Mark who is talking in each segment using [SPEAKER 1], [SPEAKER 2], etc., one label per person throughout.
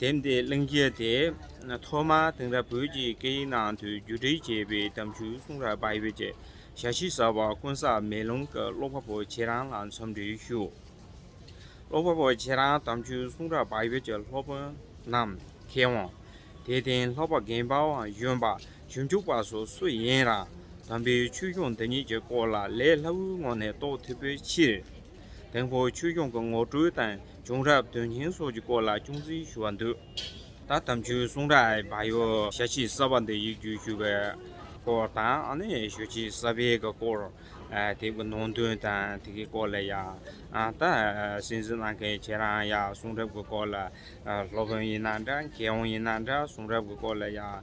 [SPEAKER 1] དེབ་འདི་གླེང་རྒྱུ་དེ་ཐོག་མར་དེང་རབས་བོད་ཀྱི་སྐད་ཡིག་ནང་དུ་བསྒྱུར་བསྒྲིགས་བྱས་པའི་གཏམ་རྒྱུད་གསུང་རབ་པ་བོད་ཀྱི་ཞལ་ཤེས་གསར་བ་དཀོན་བཟང་མེ་ལོང་གི་ཀློག་པ་པོ་ཁྱེད་རང་ལ་འཚམས་འདྲི་ཞུ། ཀློག་པ་པོ་ཁྱེད་རང་གཏམ་རྒྱུད་གསུང་རབ་པ་བོད་ཀྱི་སློབ་དཔོན་ནམ་མཁའི་དབང། དད་ལྡན་ལྷག་པ་རྒན་པའང་གཞོན་པ་ཞིབ་འཇུག་པ་སོགས་སུ་ཡིན་རང་དམ་པའི་ཆོས་སྐྱོང་འདི་ཉིད་ཀྱི་སྐོར་ལ་ལས་སླ་བོའི་ངང་ནས་རྟོགས་ཐུབ་པའི་ཕྱིར། དེང་ཕོ་ཆོས་སྐྱོང་གི་ངོ་སྤྲོད་དང་བྱུང་རབས་དོན་སྙིང་སོགས་ཀྱི་སྐོར་ལ་ཅུང་ཟིན་ཞུ་བར་འདོད། ད་དམ་ཆོས་གསུང་རབ་ཨའི་བག་ཡོད་ཞལ་ཕྱེ་གསར་པ་འདི་ཡིག་བསྒྱུར་ཞུ་བའི་སྐོར་དང། ཞོལ་ཕྱེ་གསར་པའི་གི་སྐོར་དེ་གི་ནང་དོན་དང་དེ་གི་སྐོར་ལ་ཡང་ད་གསན་གཟིགས་གནང་མཁན་ཁྱེད་རང་ཡང་གསུང་རབ་གི་སྐོར་ལ་སློབ་དཔོན་ཡིན་ན་འདྲ་མཁས་དབང་ཡིན་ན་འདྲ་གསུང་རབ་གི་སྐོར་ལ་ཡང་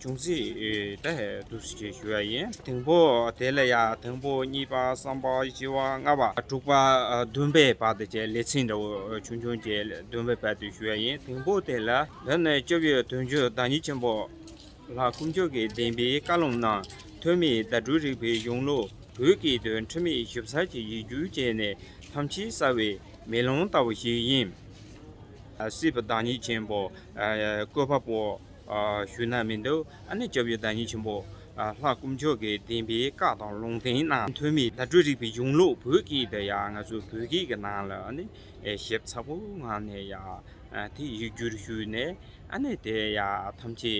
[SPEAKER 1] ཅུང་ཟད་དེ་བསྡུ་བྱེད་ཞུ་བ་ཡིན། དང་པོ་དེ་ལ་ཡང་དང་པོ་གཉིས་པ་གསུམ་པ་བཞི་བ་ལྔ་བ། དྲུག་པ་བདུན་པའི་བར་དུ་བྱས་ལེ་ཚན་འདྲ་བོ་ཆུང་ཆུང་བྱས་བདུན་པའི་བར་དུ་ཞུ་བ་ཡིན། དང་པོ་དེ་ལ། འདི་ནི་སྤྱི་བོའི་དོན་བརྒྱུད་བདག་ཉིད་ཆེན་པོ་ལྷ་དཀོན་མཆོག་གི་བདེན་པའི་བཀའ་ལུང་ནང་ཐོན་མིའི་བརྡ་སྤྲོད་རིག་པའི་གཞུང་ལུགས་བོད་ཀྱི་དོན་ཁྲིད་མི་ཞིབ་གསར་གྱི་ཡིག་སྒྱུར་བྱས་ནས་ཐམས་ཅད་གསལ་བའི་མེ་ལོང་ལྟ་བུ་ཞིག་ཡིན། སྲིད་པ་བདག་ཉིད་ཆེན་པོ། བཀོད་པ་པོ། ཞུ་ན་མི་འདུག་ཨ་ནི་སྐྱབས་ཡུལ་བདག་ཉིད་ཆེན་པོ། ལྷ་དཀོན་མཆོག་གི་བདེན་པའི་བཀའ་དང་ལུང་བསྟན་ནང་ཐོན་མི་བརྡ་སྤྲོད་རིག་པའི་གཞུང་ལུགས་བོད་སྐད་དུ་ཡང་ང་ཚོའི་བོད་སྐད་ཀྱི་ནང་ལ་ནི་ཞིབ་ཚགས་པོ་ངང་ནས་ཡང་དེ་ཡིག་སྒྱུར་ཞུས་ནས་ཨ་ནི་དེ་ཡང་ཐམས་ཅད་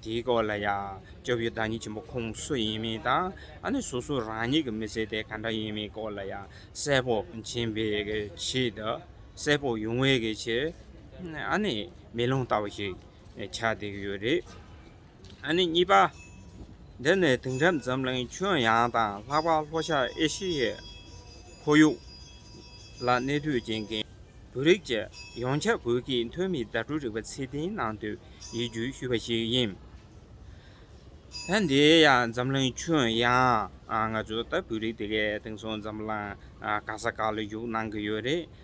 [SPEAKER 1] དེའི་སྐོར་ལ་ཡང་སྐྱབས་ཡུལ་བདག་ཉིད་ཆེན་པོ་ཁོང་སུ་ཡིན་མིན་དང་ཨ་ནི་སོ་སོ་རང་ཉིད་ཀྱི་མི་ཚེ་དེ་ག་འདྲ་ཡིན་མིན་སྐོར་ལ་ཡང་གསལ་པོ་བྱིན་པའི་ཆེད་དུ་གསལ་པོ་ཡོང་བའི་ཆེད་ཨ་ནི། མེ་ལོང་ལྟ་བུ་ཞིག་ཆགས་བསྡད་ཀྱི་ཡོད་རེད། ཨ་ནི་གཉིས་པ། འདི་ནི་དེང་རབས་འཛམ་གླིང་ཁྱོན་ཡངས་དང་ལྷག་པར་ལྷོ་ཤར་ཨེ་ཤི་ཡའི་ཁོར་ཡུག་ལ་གནས་སྡོད་བྱེད་མཁན་བོད་རིགས་བཅས་ཡོངས་ཁྱབ་བོད་ཀྱི་ཐོན་མིའི་དྭ་ཕྲུག་རིག་པ་ཚད་ལྡན་གནང་འདོད་ཡིད་འགྱུར་ཞུས་པ་ཞིག་ཡིན། ད་འདི་ཡང་འཛམ་གླིང་ཁྱོན་ཡངས་ང་ཚོ་ལྟ་བུའི་རིགས་དེ་གའི་དེང་སང་འཛམ་གླིང་ག་ས་ག་ལ་བཞུགས་གནང་གི་ཡོད་རེད།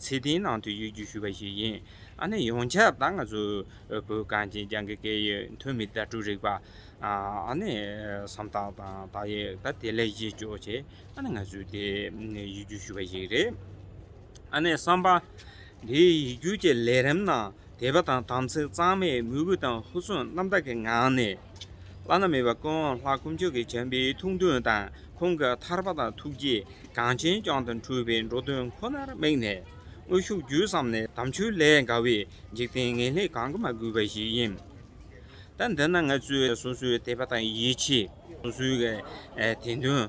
[SPEAKER 1] ཚེ་འདིའི་ནང་དུ་ཡོད་རྒྱུ་ཞུས་པ་ཞིག་ཡིན། ཨ་ནི་ཡོངས་ཁྱབ་ད་ང་ཚོ་བོད་གངས་ཅན་ལྗང་གི་སྐད་ཡིག་ཐོན་མི་དྭ་ཕྲུག་རིག་པ་ཨ་ནི་སམ་དག་དང་དག་ཡིག་ད་དེ་ལས་གཞི་གཅོག་ཆེ་ཨ་ནི་ང་ཚོའི་དེ་ཡིག་རྒྱུགས་ཞུས་པ་ཞིག་རེད། ཨ་ནི་བསམ་པ། དེ་ཡིག་རྒྱུགས་ཀྱི་ལས་རིམ་ནང། དད་པ་དང་དམ་ཚིག་གཙང་མའི་མོས་གུས་དང་ཧུར་བརྩོན་རྣམ་དག་གི་ངང་ནས། བླ་ན་མེད་པ་ཀུན་དབང་ལྷ་དཀོན་མཆོག་གི་བྱམས་པའི་ཐུགས་འདུན་དང་ཁོང་གི་ཐར་པ་དང་ཐུགས་རྗེ་གངས་ཅན་ལྗོངས་དང་འཁྲུངས་པའི་འགྲོ་དོན་ཁོ་ནར་དམིགས་ནས། དངོས་ཤུགས་བརྒྱུད་བསམ་ནས་དམ་ཆོས་ལས་འགལ་བའི་འཇིག་རྟེན་ངན་ལས་གང་གི་མ་གུས་པ་ཞིག་ཡིན། ད་འདི་ན་ང་ཚོས་སོ་སོའི་དད་པ་དང་ཡིད་ཆེས། སོ་སོའི་དད་འདུན།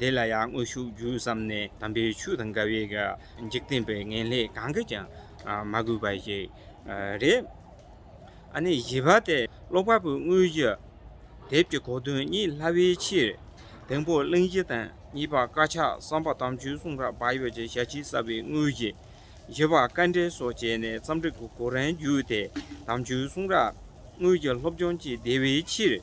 [SPEAKER 1] དེ་ལ་ཡང་དངོས་ཤུགས་བརྒྱུད་བསམ་ནས་དམ་པའི་ཆོས་དང་དགའ་བའི་འཇིག་རྟེན་པའི་ངན་ལས་གང་གིས་ཀྱང་མ་གོས་པ་ཞིག་རེད། ཨ་ནི་བཞི་པ་སྟེ་ཀློག་པ་པོའི་དངོས་གཞི། དེབ་ཀྱི་གོ་དོན་གཉིས་སླ་བའི་ཕྱིར། དང་པོ་གླེང་གཞི་དང་གཉིས་པ་དཀར་ཆག་བསམ་པ་དམ་ཆོས་གསུང་རབ་བག་ཡོད་ཀྱི་ཞལ་ཕྱེ་གསབ་པའི་དངོས་གཞི། བཞི་པ་དཀའ་འགྲེལ་སོགས་བྱས་ནས་རྩོམ་སྒྲིག་གི་གོ་རིམ་བརྒྱུད་དེ་དམ་ཆོས་གསུང་རབ་དངོས་གཞི་སློབ་སྦྱོང་བྱེད་བདེ་བའི་ཕྱིར།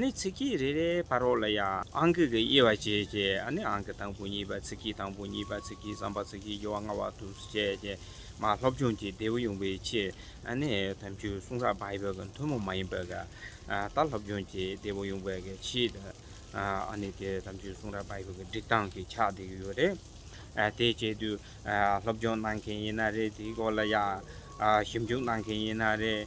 [SPEAKER 1] ནི་ཚིག་གིས་རེ་རེའི་བར་རོ་ལ་ཡང། ཨང་ཀི་གི་དབྱེ་བ་བྱེད་ཀྱི། ནི་ཨང་ཀི་དང་པོ་གཉིས་པ་ཚིག་གི་དང་པོ་གཉིས་པ་ཚིག་གི་བསམ་པ་ཚིག་གི་དབྱེ་བ་སྔ་བ་དུ་བྱས་ཀྱི། མ་སློབ་སྦྱོང་གི་བདེ་བོ་ཡོང་བའི་ཕྱིར། ནི་དམ་ཆོས་གསུང་རབ་བྷཱི་བྷ་གི་མཐུན་མོང་མ་ཡིན་པའི་ག། ད་སློབ་སྦྱོང་གི་བདེ་བོ་ཡོང་བའི་གའི་ཕྱིར། ནི་དེ་དམ་ཆོས་གསུང་རབ་བྷཱི་བྷ་གི་སྒྲིག་སྟངས་ཀྱི་ཆ་དེ་ཡོད་རེད། དེ་བྱེད་དུས། སློབ་སྦྱོང་གནང་མཁན་ཡིན་ན་རེད་དེའི་སྐོར་ལ་ཡང། ཞིབ་འཇུག་གནང་མཁན་ཡིན་ན་རེད།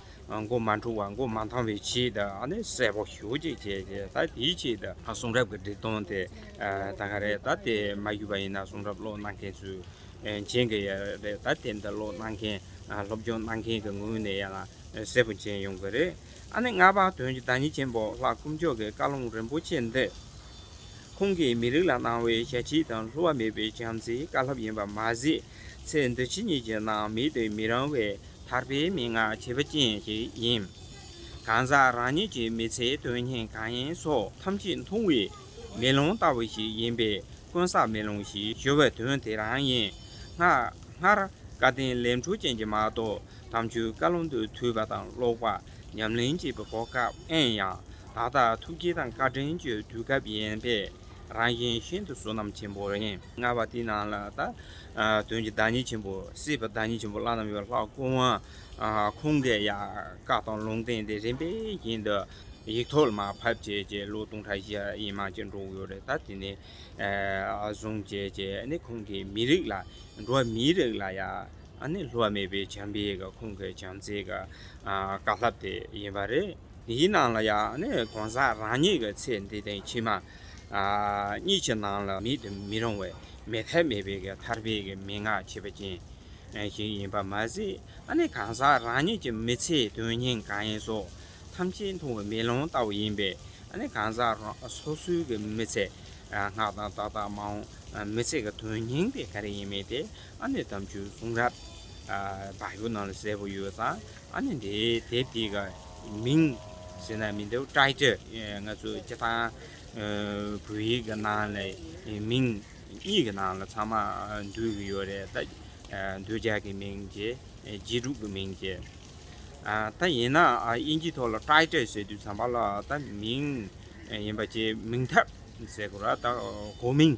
[SPEAKER 1] མགོ་མ་འཁྲུ་བ་མགོ་མ་འཐང་བའི་ཆེད་དུ་ཨ་ནི་གསལ་པོ་ཞུ་ཅིག་བྱས་ཏེ་ད་དེའི་ཆེད་དུ། གསུང་རབ་ཀྱི་འབྲི་སྟོང་དེ་ད་ག་རེད་ད་དེ་མ་བཞུས་པ་ཡིན་ན་གསུང་རབ་ཀློག་གནང་མཁན་ཚོས་མཇལ་གི་ཡ་རེད་ད་དེ་འདི་ཀློག་གནང་མཁན་སློབ་སྦྱོང་གནང་མཁན་གྱི་ངོས་ནས་ཡང་གསལ་པོ་མཇལ་ཡོང་གི་རེད་ཨ་ནི་སྔར་བག་དོན་གྱི་བདག་ཉིད་ཆེན་པོ་ལྷ་སྐུ་མཆོག་གི་བཀའ་ལུང་རིན་པོ་ཆེ་འདི་ཁོང་གིས་མི་རིགས་ལ་གནང་བའི་ཞལ་ཁྲིད་དང་བསླུ་བ་མེད་པའི་བྱམས་བརྩེའི་བཀའ་ལྷབ་ཡིན་པ་མ་ཟད་ཚེ་འདི་ཕྱི་གཉིས་ཀྱི་ནང་མི་དེ་མི་རང་བའི་ཐར་པའི་མན་ངག་བྱེད་པ་ཅན་ཞིག་ཡིན། གང་ཟག་རང་ཉིད་ཀྱི་མི་ཚེའི་དོན་སྙིང་གང་ཡིན་སོགས་ཐམས་ཅད་མཐོང་བའི་མེ་ལོང་ལྟ་བུ་ཞིག་ཡིན་པས་དཀོན་བསགས་མེ་ལོང་ཞེས་ཞུ་བའི་དོན་དེ་རང་ཡིན། སྔར། བཀའ་བསྟན་ལས་འཕྲོ་ཅན་གྱི་མ་གཏོགས་དམ་ཆོས་བཀའ་བློན་དུ་ཐུག་པ་དང་ཀློག་པ་ཉམས་ལེན་བྱེད་པའི་གོ་སྐབས་ཨེ་ཡང། ད་ལྟ་ཐུགས་དགྱེས་དང་བཀའ་དྲིན་བརྗོད་དུས་སྐབས་ཡིན་པས། རང་བཞིན་ཤིན་ཏུ་བསོད་ནམས་ཆེན་པོ་རེངས་ལྔ་པ་དེའི་ནང་ལ་དོན་གྱི་བདག་ཉིད་ཆེན་པོ་སྲིད་པའི་བདག་ཉིད་ཆེན་པོ་བླ་ན་མེད་པའི་ལྷ་སྐུ་དབང་ཁུང་གི་ཡལ་ག་དང་ལུང་བསྟན་དེ་རིམ་པས་བཞིན་དུ་ཡིག་ཐོག་ལ་མ་ཕབ་བྱས་རྗེས་ལོ་སྟོང་ཕྲག་བཞི་ཡི་མ་ཅིག་འགྲོ་འོས་རེད་ད་དེ་ནས་བཟུང་བྱས་རྗེས་ནི་ཁོང་གིས་མི་རིགས་ལ་འགྲོ་བ་མིའི་རིགས་ལ་ཡང་ནི་ལྷོད་མེད་པའི་བྱམས་པས་ཁོང་གི་བྱམས་བརྩེའི་བཀའ་ལྷབ་དེ་ཡིན་པ་རེད། འདིའི་ནང་ལ་ཡང་ནི་གང་ཟག་རང་ཉིད་ཀྱི་ཚེ་འདི་དང་ཕྱི་མ་གཉིས་ཀྱི་ནང་ལ་མེད་དུ་མི་རུང་བའི་མེད་མཐའི་མེད་པའི་མཐར་འཕེལ་གྱི་མན་ངག་བྱེད་པ་ཅན་ཞིག་ཡིན་པར་མ་ཟད་ནི་གང་ཟག་རང་ཉིད་ཀྱི་མི་ཚེའི་དོན་སྙིང་གང་ཡིན་སོགས་ཐམས་ཅད་མཐོང་བའི་མེ་ལོང་ལྟ་བུ་ཡིན་པས་ནི་གང་ཟག་སོ་སོའི་གི་མི་ཚེ་སྔགས་དང་བདག་དང་མ་འོངས་མི་ཚེ་གི་དོན་སྙིང་དེ་ག་རེ་ཡིན་མིན་དེ་ནི་དམ་ཆོས་གསུང་རབ་བརྒྱུད་ནང་ལ་གསལ་པོ་ཡོད་ཙང་ཨ་ནི་འདིའི་དེབ་འདི་ག་མིང་ཟེར་ན་མི་འདུག Title ང་ཚོ་སྤྱི་ཐང་བོད་ཡིག་གི་ནང་ལས་མིང་གཉིས་ཀྱི་ནང་ལ་ཚང་མ་འདུས་གི་ཡོད་རེད་ད། འདོད་ཆགས་ཀྱི་མིང་ཅེས་རྗེས་གྲུབ་ཀྱི་མིང་ཅེས། ད་ཡིན་ན་དབྱིན་ཇི་ཐོག་ལ Title ཟེར་དུས་ཚང་མ་ལ་ད་མིང་ཡིན་པ་ཅེས་མིང་ཐབས་ཟེར་གོ་ར་ད་གོ་མིང།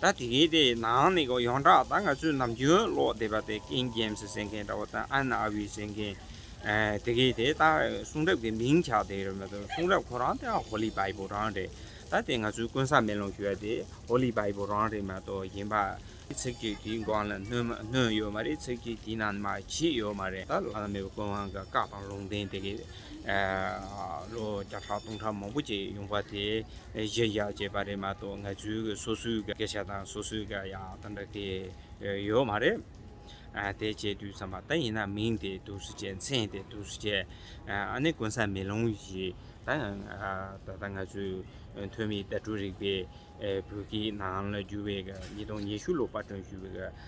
[SPEAKER 1] ད་དེ་གའི་དེའི་ནང་ནས་ཀྱང་ཡོངས་གྲགས་ད་ང་ཚོའི་ནམ་རྒྱུན་ཀློག་བསྡད་པ་དེ་ཀིང་རྒྱེམ་སི་ཟེར་མཁན་འདྲ་བོ་དང་ཨན་ཨ་བྷི་ཟེར་མཁན། དེ་གའི་དེ་ད་གསུང་རབ་ཀྱི་མིང་ཆགས་བསྡད་རེད་མ་གཏོགས་གསུང་རབ་ཁོ་རང་དེ་ཧོ་ལི་བྷའི་བུ་རང་རེད། ད་དེ་ང་ཚོའི་ཀུན་བཟང་མེ་ལོང་ཞུ་བ་དེ་ཧོ་ལི་བྷའི་བུ་རང་རེད་མ་གཏོགས་གཞན་པ། ཚིག་གཅིག་དེའི་སྒང་ལ་སྣོན་ཡོད་མ་རེད་ཚིག་གཅིག་དེའི་ནང་ན་མ་བྱས་ཡོད་མ་རེད་ད་བླ་ན་མེད་པའི་ཀུན་དབང་གི་བཀའ་དང་ལུང་བསྟན་དེ་གའི། ལོ་བརྒྱ་ཕྲག་སྟོང་ཕྲག་མང་པོ་ཅིག་ཡོང་བ་དེ་གཞིར་བཞག་བྱས་པ་རེད་མ་གཏོགས་ང་ཚོའི་སོ་སོའི་སྐད་ཆ་དང་སོ་སོའི་སྐད་ཡང་ད་འདྲ་དེ་ཡོད་མ་རེད། དེ་བྱས་དུས་བསམ་པ་ད་ཡིན་ན་མིང་དེ་དུག་སུ་བྱས་མཚན་དེ་དུག་སུ་བྱས་ཨ་ནི་དཀོན་ས་མེ་ལོང་བཞི་ད་ཡང་ད་ལྟ་ང་ཚོའི་ཐོན་མིའི་བརྡ་སྤྲོད་རིག་པའི་བོད་སྐད་ནང་ལ་བསྒྱུར་བའི་ཉིས་སྟོང་ཉི་ཤུ་ལོ་པར་སྒྲོན་ཞུས་པའི་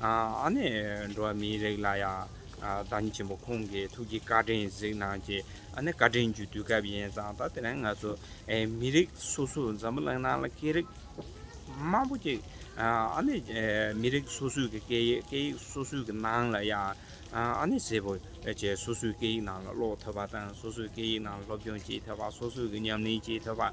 [SPEAKER 1] ཨ་ནེ་འགྲོ་བ་མིའི་རིགས་ལ་ཡང་བདག་ཉིད་ཆེན་པོ་ཁོང་གི་ཐུགས་ཀྱི་བཀའ་དྲིན་གཟིགས་གནང་གྱིས་ཨ་ནེ་བཀའ་དྲིན་རྒྱུད་དུས་སྐབས་ཡིན་ཙང་ད་དེ་ནས་ང་ཚོ་མི་རིགས་སོ་སོས་འཛམ་བུ་གླིང་ནང་ལ་སྐད་རིགས་མང་པོ་གཅིག་ཨ་ནེ་མི་རིགས་སོ་སོས་ཀྱི་སྐད་ཡིག་སྐད་ཡིག་སོ་སོས་ཀྱི་ནང་ལ་ཡང་ཨ་ནེ་སེར་པོ་བཅས་སོ་སོའི་སྐད་ཡིག་ནང་ལ་ཀློག་ཐུབ་པ་དང་སོ་སོའི་སྐད་ཡིག་ནང་ལ་སློབ་སྦྱོང་བྱེད་ཐུབ་པ་སོ་སོས་ཀྱི་ཉམས་ལེན་བྱེད་ཐུབ་པ།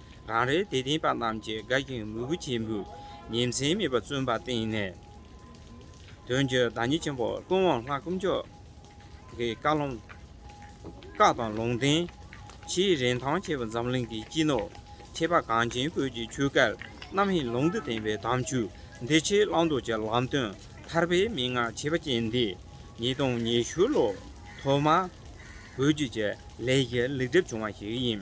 [SPEAKER 1] རང་རེའི་དད་ལྡན་པ་རྣམས་ཀྱིས་དགའ་ཞིང་མོས་གུས་ཆེན་པོས་ཉིན་མཚན་མེད་པར་བརྩོན་པར་བརྟེན་ནས། དོན་གྱི་བདག་ཉིད་ཆེན་པོ་ཀུན་དབང་ལྷ་སྐུ་མཆོག་གི་བཀའ་ལུང། བཀའ་དང་ལུང་བསྟན། ཆེའི་རིན་ཐང་ཆེ་བ་འཛམ་གླིང་གི་སྤྱི་ནོར་ཆེ་བ་གངས་ཅན་བོད་ཀྱི་ཆོས་སྐལ་རྣམ་གཡེང་ལུང་དུ་བསྟན་པའི་དམ་ཆོས་འདི་ཕྱིར་བླང་དོར་གྱི་ལམ་སྟོན་ཐར་པའི་མན་ངག་ཆེ་བ་ཅན་འདི་ཉིས་སྟོང་ཉི་ཤུ་ལོ་ཐོག་མར་བོད་བརྒྱུད་ཀྱི་ལས་ཀྱི་ལེགས་གྲུབ་བྱུང་བ་ཞིག་ཡིན།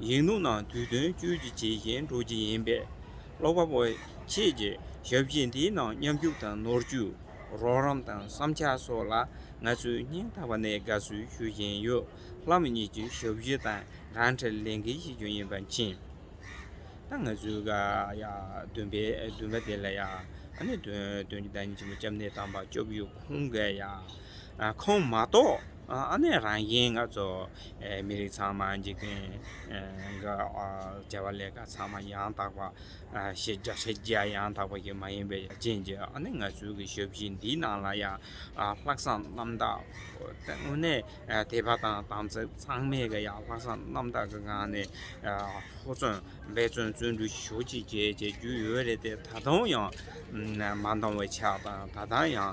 [SPEAKER 1] ཡིག་ནོར་ནང་དུས་དོན་བཅོས་ཀྱི་བྱེད་བཞིན་འགྲོ་གི་ཡིན་པས། ཀློག་པ་པོ་ཁྱེད་ཀྱིས་ཞབས་ཕྱི་འདིའི་ནང་མཉམ་ཞུགས་དང་ནོར་བཅོས་རོགས་རམ་དང་བསམ་འཆར་སོགས་ལ་ང་ཚོས་སྙིང་ཐག་པ་ནས་དགའ་བསུ་ཞུ་བཞིན་ཡོད། ལྷ་མོ་གཉིས་ཀྱི་ཞབས་ཕྱི་དང་གང་འཕྲད་ལས་འགན་ཞིག་ཀྱང་ཡིན་པ་མཁྱེན། ད་ང་ཚོའི་དགའ་ཡ་འདུན་པའི་འདུན་པ་དེ་ལ་ཡ་ཨ་ནི་དོན་གྱི་བདག་ཉིད་ཆེན་པོ་སྐྱབས་གནས་དམ་པ་སྐྱབས་ཡུལ་ཁོང་གི་ཡ་ཁོང་མ་གཏོགས། ཨ་ནེ་རང་བཞིན་ང་ཚོ་མི་རིགས་ཚང་མ་འཇིག་རྟེན་འགའ་བྱ་བ་ལས་ཀ་ཚང་མ་ཡང་དག་པ་ཤེས་རྒྱ་ཤེས་རྒྱ་ཡང་དག་པ་ཞིག་མ་ཡིན་པའི་རྐྱེན་གྱིས་ཨ་ནེ་ངལ་རྩོལ་གྱི་ཞབས་ཕྱི་འདིའི་ནང་ལ་ཡང་ལྷག་བསམ་རྣམ་དག་དངོས་གནས་དད་པ་དང་དམ་ཚིག་གཙང་མས་ཀྱི་ཡང་ལྷག་བསམ་རྣམ་དག་གི་ངང་ནས་ཧུར་བརྩོན་འབད་བརྩོན་བརྩོན་འགྲུས་ཞུ་གཅིག་བྱས་བྱས་རྒྱུ་ཡོད་རེད་དེ་ད་དུང་ཡང་མ་འདང་བའི་ཆ་དང་ད་ལྟ་ཡང